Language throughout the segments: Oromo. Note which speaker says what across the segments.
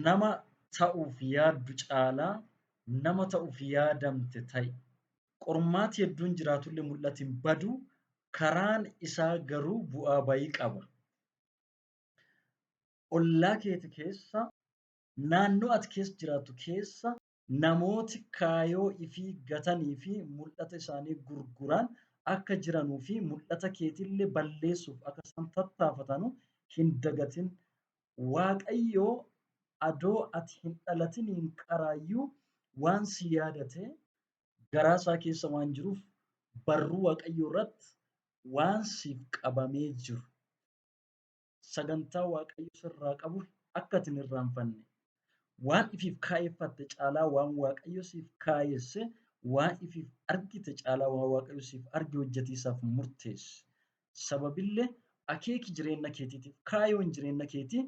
Speaker 1: Nama ta'uuf yaaddu caalaa nama ta'uuf yaadamte ta'i. Qormaati hedduun jiraatullee mul'ati hin badu, karaan isaa garuu bu'aa bayii qaba. Ollaa keeti keessa, naannoo ati keessa jiraattu keessa namooti kaayoo ifii gatanii fi muldhata isaanii gurguraan akka jiranuu fi muldhata keetille balleessuuf akka isaan tattaafatanu hin dagatin. Waaqayyo adoo ati hin dhalatiniin qaraayyuu waan si yaadate garaa isaa keessa waan jiruuf barruu Waaqayyoo irratti waan siif qabamee jiru. sagantaa Waaqayyo sirraa qabu akka ati hin irraanfanne, waan ifiif kaayeffatte caalaa waan Waaqayyo siif kaayesse, waan ifiif argite caalaa waan Waaqayyo siif arge hojjetii isaaf murteessi. Sababille akeeki jireenna keetiitiif, kaayoon jireenna keetii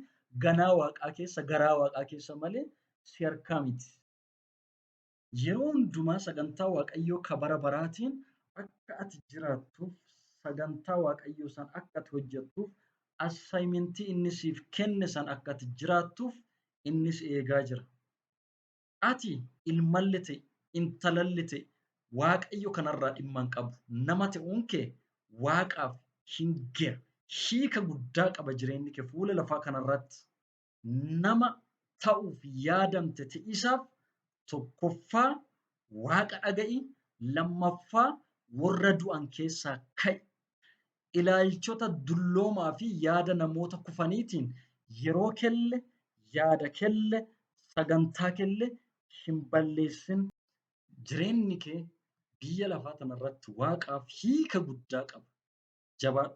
Speaker 1: ganaa Waaqaa keessa, garaa Waaqaa keessa malee si harkaa miti. Yeroo hundumaa sagantaa Waaqayyoo ka bara baraatiin akka ati jiraattuuf, sagantaa Waaqayyoo san akka ati hojjattuuf, assignment inni siif kenne san akka ati jiraattuuf inni si eegaa jira. Ati ilmalli ta'e, intalalli ta'e Waaqayyo kanarraa dhimma hin qabu. Nama ta'uun kee Waaqaaf hin ge'a. Hiika guddaa qaba jireenyi kee fuula lafaa kanarratti. nama ta'uuf yaadamte ti'isaaf tokkoffaa waaqa dhaga'i lammaffaa warra du'an keessaa ka'i. Ilaalchota dulloomaa fi yaada namoota kufaniitiin yeroo kelle, yaada kelle, sagantaa kelle hin balleessin. Jireenni kee biyya lafaa tanarratti waaqaaf hiika guddaa qaba. jabaadhu.